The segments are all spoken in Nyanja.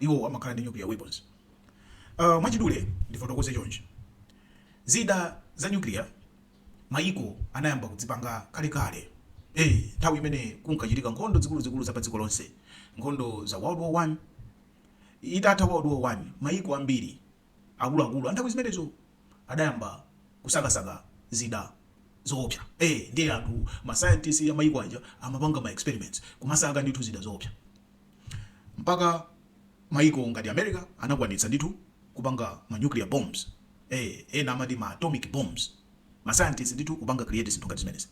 iwowo amakhala ndi nuclear weapons. Uh, mwachidule ndifotokoze chonchi. Zida za nuclear mayiko anayamba kudzipanga kalekale. Eh, nthawi imene kunkachitika nkhondo zikuluzikulu za padziko lonse, nkhondo za World War 1 itatha World War 1 mayiko ambiri Akuluakulu a nthawi zimenezo adayamba kusakasaka zida zoopsa. Eee, ndiye anthu, ma scientist a mayiko aja amapanga ma experiments, kumasaka ndithu zida zoopsa. Mpaka mayiko ngati America anakwanitsa ndithu kupanga ma nuclear bombs, ee, ena amati ma atomic bombs. Ma scientist ndithu kupanga create zinthu ngati zimenezi.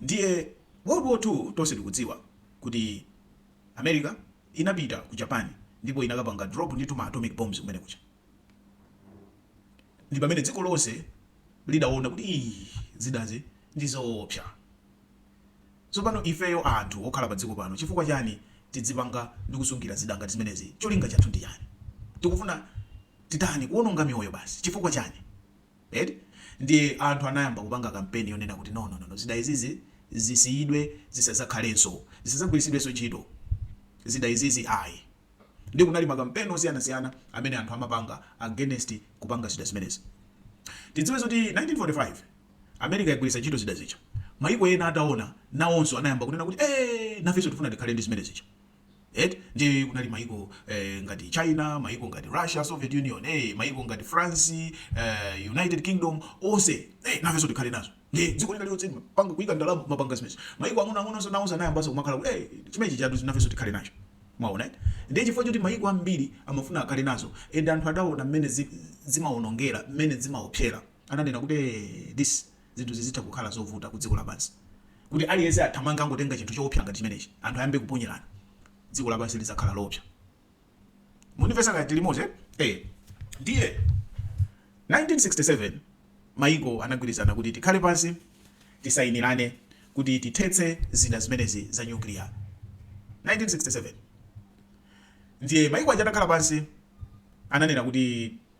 Ndiye World War 2 tonse tikudziwa kuti. America inapita ku Japan ndipo inakapanga drop ndithu ma atomic bombs kumene kuja ndipamene dziko lonse lidaona kuti iih zidazi ndizoopsa. Tsopano ifeyo anthu okhala pa dziko pano chifukwa chani tidzipanga ndi kusungira zida ngati zimenezi cholinga chathu ndi chani? Tikufuna titani? Kuononga miyoyo basi chifukwa chani? eti ndiye anthu anayamba kupanga kampeni yonena kuti no no no no zida izizi zisiyidwe zisadzakhalenso zisadzagwiritsidwenso ntchito zida izizi ayi ndiye kunali makampeni osiyanasiyana amene anthu amapanga against kupanga zida zimenezi tidziwe zoti 1945 america yagwiritsa ntchito zida zija mayiko ena ataona nawonso anayamba kunena kuti ee nafenso tifuna tikhale ndi zimene zija eti ndiye kunali maiko eh, ngati china maiko ngati russia soviet union eh, maiko ngati france eh, united kingdom onse eh, nafenso tikhale nazo ndiye dziko lina lililonse panga kuyika ndalama mapanga zimenezo maiko ang'ono ang'ono onse nawonso anayambanso kumakhala kuti eh, chimenechi chatu nafenso tikhale nacho mwaona eh? ndiye chifukwa choti maiko ambiri amafuna akhale nazo and anthu adaona mmene zi- zimawonongera mmene zimaopsera ananena kuti eh, this zinthu zizitha kukhala zovuta ku dziko lapansi, kuti aliyense athamange angotenga chinthu choopsa ngati chimenechi, anthu ayambe kuponyerana, dziko lapansi lizakhala loopsa. Mukundimvetsa kaya tili limodzi eh? Eh. Ndiye 1967 maiko anagwirizana kuti tikhale pansi tisainirane kuti tithetse zida zimenezi za nyukliya 1967. Ndiye maiko aja atakhala pansi ananena kuti.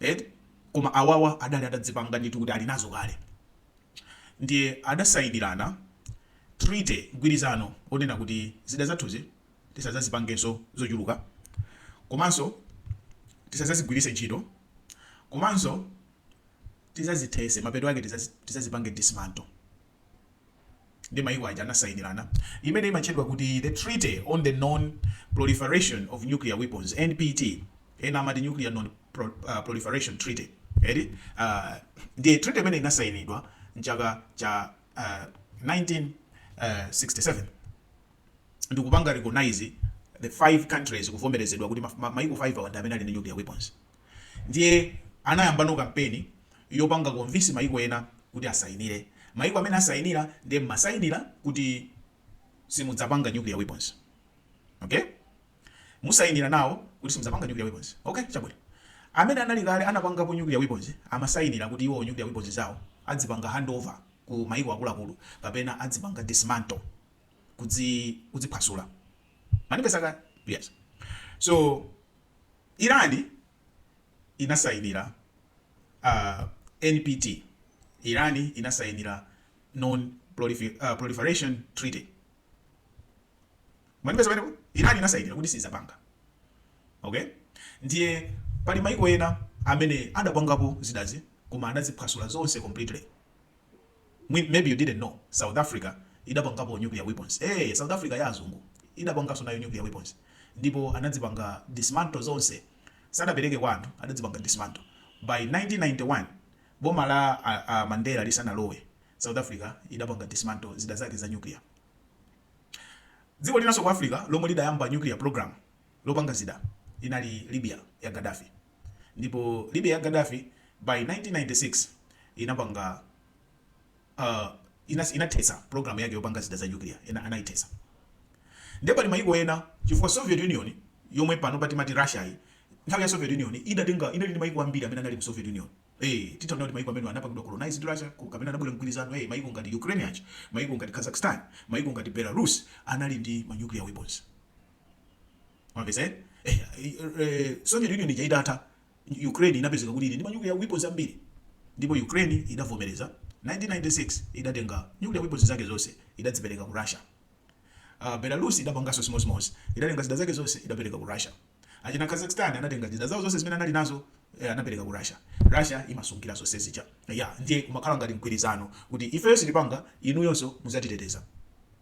eti koma awawa adali atadzipanga ndithu kuti ali nazo kale ndiye adasainirana treaty, mgwirizano, onena kuti zida zathuzi tisadzazipangenso zochuluka komanso tisadzazigwiritse ntchito komanso tidzazithetse mapeto ake tidzazipange dismantle. ndi mayiko aja anasayinirana imene imatchedwa kuti The Treaty on the Non-Proliferation of Nuclear Weapons, NPT, ena amati Nuclear Non-Proliferation Treaty, ndiye treaty imene inasayinidwa mchaka cha uh, 1967 ndikupanga recognize the five countries kuvomerezedwa kuti mayiko 5 awa ndi amene ali ndi nuclear weapons. Ndiye anayambano kampeni yopanga convince maiko ena kuti asayinire. Maiko amene asayina ndiye mmasayinira kuti simudzapanga nuclear weapons. Okay? Musayinira nawo kuti simudzapanga nuclear weapons. Okay? Chabwino. Amene anali kale anapangapo nuclear weapons amasayinira kuti iwowo nuclear weapons zawo azipanga handover ku maiko akuluakulu kapena azipanga dismantle, kuzi, kuziphwasula. Mwandipeza kaya? Yes. So, Iran inasainira NPT, Iran inasainira non proliferation treaty mwandipeza pamenepo Iran inasainira kuti siizapanga okay ndiye pali maiko ena amene adapangapo zidazi koma adaziphwasula zonse completely. Mwin maybe you didn't know south africa idapangapo nuclear weapons ee south africa ya azungu idapanganso nayo nuclear weapons ndipo anazipanga dismantle zonse sadapereke kwa anthu adazipanga dismantle by 1991 boma la a, a mandela lisanalowe south africa idapanga dismantle zida zake za nuclear dziko linanso ku africa lomwe lidayamba nuclear program lopanga zida inali libya ya gaddafi ndipo Libya ya Gaddafi by 1996 inapanga uh, inas, inathetsa program yake yopanga zida za nuclear anaithetsa nde pali mayiko ena chifukwa Soviet Union yomwe pano pa timati Russia yi nthawi ya Soviet Union idatenga inali ndi mayiko ambiri amene anali mu Soviet Union Eh, titanena kuti maiko amene anapangidwa colonize ndi Russia ku- kapena anabwera mgwirizano eh, maiko ngati Ukraine aja, maiko ngati Kazakhstan, maiko ngati Belarus anali ndi ma nuclear weapons. Mwamvetsa eh? Eh, eh, Soviet Union ija itatha Ukraine inapezeka kuti ili ndi manyukiliya weapons ambiri ndipo Ukraine idavomereza 1996 idatenga nuclear weapons zake zonse idazipereka ku Russia. Uh, Belarus idapanganso chimodzimodzi idatenga zida zake zonse idapereka ku Russia. Achina Kazakhstan anatenga zida zawo zonse zimene anali nazo eh, anapereka ku Russia. Russia imasungira zonse zija. Yeah, ndiye kumakhala ngati mgwirizano kuti ifeyo sitipanga inuyonso muzatiteteza.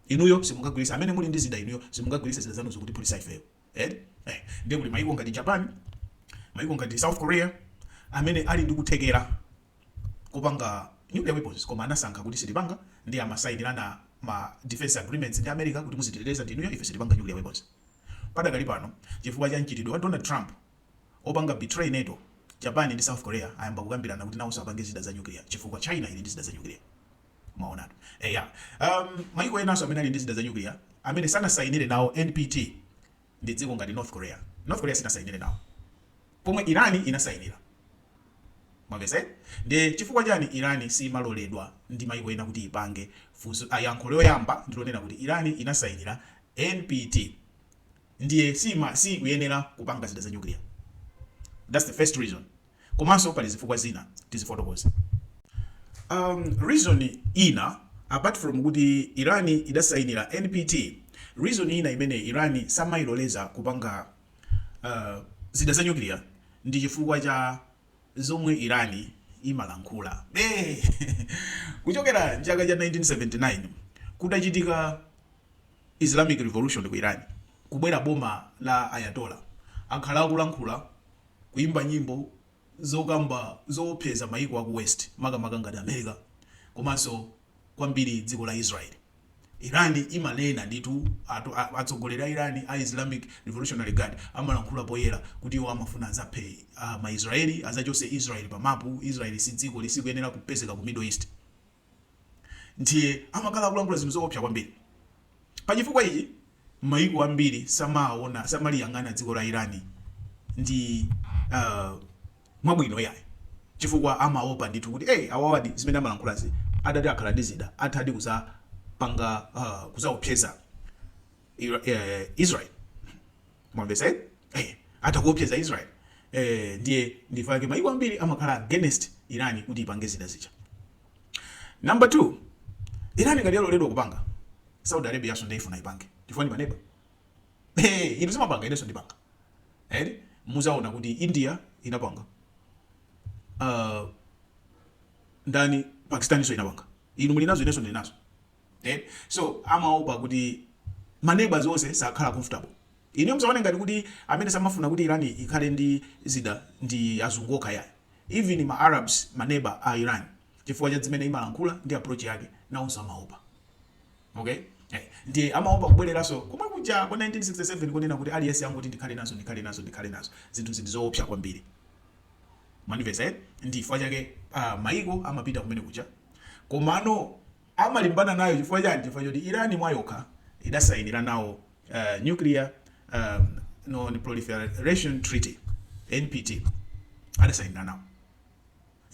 inuyo simungagwirise amene muli ndi zida inuyo simungagwirise zida zanuzo kutiphulisa ifeyo eti eh ndiye kuli maiko ngati japan maiko ngati south korea amene ali ndi kuthekera kopanga nuclear weapons koma anasankha kuti sitipanga nde amasayinirana ma defense agreements ndi america kuti muzititeteza ndinuyo ife sitipanga nuclear weapons padakali pano chifukwa cha mchitidwe wa donald trump opanga betray nato japan ndi south korea ayamba kukambirana kuti nawonso apange zida za nuclear chifukwa china ili ndi zida za nuclear Mwaonatu, eya um, maiko enanso amene ali ndi zida za nyukliya amene sanasayinire nawo NPT ndi dziko ngati North Korea. North Korea sinasayinire nawo, pomwe Irani inasayinira. Mwamvesa eh? Ndi chifukwa chani Irani simaloledwa ndi maiko ena kuti ipange funso? Yankho loyamba ndilonena kuti Irani inasayinira NPT ndiye sima sikuyenera kupanga zida za nyukliya. That's the first reason. komanso pali zifukwa zina tizifotokoze um, reason ina apart from kuti iran idasainira npt reason ina imene iran samailoleza kupanga uh, zida za nyukiliya ndi chifukwa cha zomwe iran imalankhula eh, kuchokera chaka cha 1979 kudachitika islamic revolution ku iran kubwera boma la ayatollah akhala akulankhula kuimba nyimbo zokamba zowopseza mayiko aku West makamaka ngati America komanso kwambiri dziko la Israel. Iran imanena ndithu, atsogoleri a Iran a Islamic Revolutionary Guard amalankhula poyera kuti iwo amafuna adzaphe ma Israeli, adzachotse Israel pa mapu, Israel sidziko, sikuyenera kupezeka ku Middle East. ndiye amakhala akulankhula zinthu zoopsa kwambiri. Pa chifukwa ichi, mayiko ambiri samaona, samaliyang'ana dziko la Iran ndi uh, mwabwino iyayi chifukwa amaopa ndithu kuti hey, awawadi zimene amalankhulazi adati akhala ndi zida athadi kuzapanga uh, kuzaopseza Ira- eh, Israel Mwamvetsa eti? Eh, atha kuopseza Israel. Eh, ndiye ndifa yake maiko ambiri amakhala against Iran kuti ipange zida zija. Number 2, Iran ngati yaloledwa kupanga, Saudi Arabia yaso ndiye ifuna ipange. Chifukwa ndi maneba. Eh, inu simapanga ineso ndipanga. Eh, muzaona kuti India inapanga. Uh, ndani Pakistan iso inapanga. Inu muli nazo ineso ndili nazo. eti so amaopa kuti ma neighbours onse sakhala comfortable inuyo musaone ngati kuti amene samafuna kuti Iran ikhale ndi zida ndi azungu okha yayi even ma Arabs ma neighbour a Iran chifukwa cha zimene imalankhula ndi approach yake nawonso amaopa okay eh ndiye amaopa kubwereranso komwe kuja kwa 1967 konena kuti aliyense angoti ndikhale nazo ndikhale nazo ndikhale nazo zinthu zinthu zoopsa kwambiri mwamvetsa eh ndi chifukwa chake ah, maiko amapita kumene kuja komano amalimbana nayo chifukwa chani? chifukwa choti Iran mwayokha idasayinira nawo Nuclear Non-Proliferation Treaty, NPT, adasayinira nawo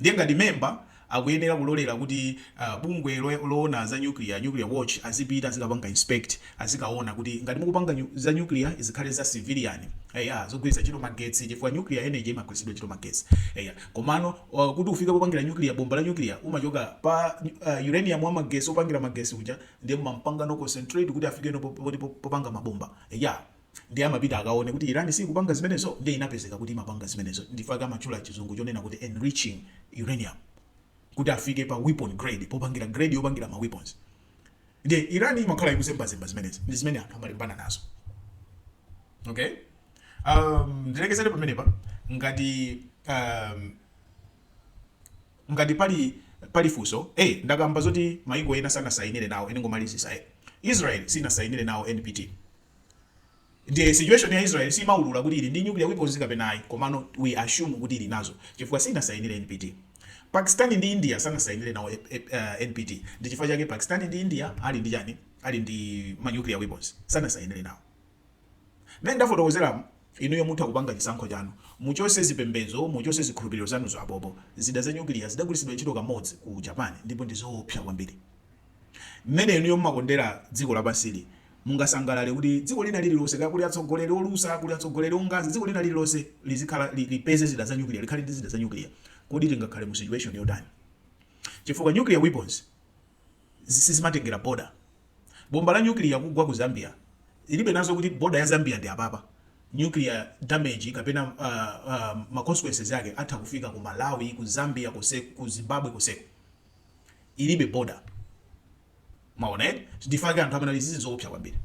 ndiye ngati member akuyenera kulolera kuti bungwe loona za nuclear, Nuclear Watch, azipita azikapanga inspect azikaona kuti ngati mukupanga nyu, za nuclear zikhale za civilian eya zogwiritsa ntchito magetsi chifukwa nuclear energy imagwiritsidwa ntchito magetsi eya komano uh, kuti ufike popangira nuclear bomba la nuclear umachoka pa uh, uranium wa magetsi opangira magetsi uja ndiye mumampangano concentrate kuti afike no po- poti po- popanga mabomba eya ndiye amapita akaone kuti Iran sikupanga zimenezo ndiye inapezeka kuti imapanga zimenezo ndifake amatchula chizungu chonena kuti enriching uranium kuti afike pa weapon grade popangira grade yopangira ma weapons Ndiye Iran imakhala ikuzembazemba zimenezi ndi zimene anthu amalimbana nazo. Okay? Um, ndilekezere pamenepa ngati um, ngati pali pali funso hey, eh, ndakamba zoti maiko ena sanasayinire nawo ndingomalizitsa hey. Eh. Israel sinasayinire nawo NPT Ndiye situation ya Israel simaulula kuti ili ndi nuclear weapons kapena ayi komano we assume kuti ili nazo chifukwa sinasayinire NPT. Pakistan ndi India sanasayinire nawo eh, eh, eh, NPT ndi chifukwa chake Pakistan ndi India ali ndi chani ali ndi ma nuclear weapons sanasayinire nawo. Nde ndafotokozeramu inuyo mutha kupanga chisankho chanu muchotse zipembedzo muchotse zikhulupiriro zanuzo apopo zida za nyukiliya zidagwiritsidwa ntchito kamodzi ku japan ndipo ndi zoopsa kwambiri mmene inuyo mumakondera dziko lapansili, mungasangalale kuti dziko lina lililonse, kaya kuli atsogoleri olusa, kuli atsogoleri ofatsa, dziko lina lililonse lizikhala, li, lipeze zida za nyukiliya, likhale ndi zida za nyukiliya? Kodi tingakhale mu situation yotani? Chifukwa nuclear weapons zi- sizimatengera border. Bomba la nyukiliya kugwa ku Zambia ilibe nazo kuti border ya Zambia ndi apapa. Nuclear damage kapena uh, uh, ma consequences ake atha kufika ku Malawi, ku Zambia, konse, ku Zimbabwe konseko. ilibe border mwaona eh ndifake anthu amene izizi zoopsa kwambiri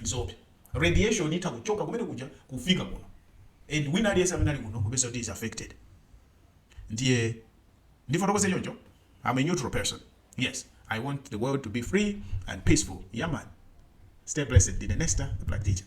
zoopsa radiation itha kuchoka kumene kuja kufika kuno and wina aliyense amene ali kuno kupezeka kuti is affected ndiye ndifotokoze choncho i'm a neutral person yes i want the world to be free and peaceful yeah man stay blessed ndine nesta the black teacher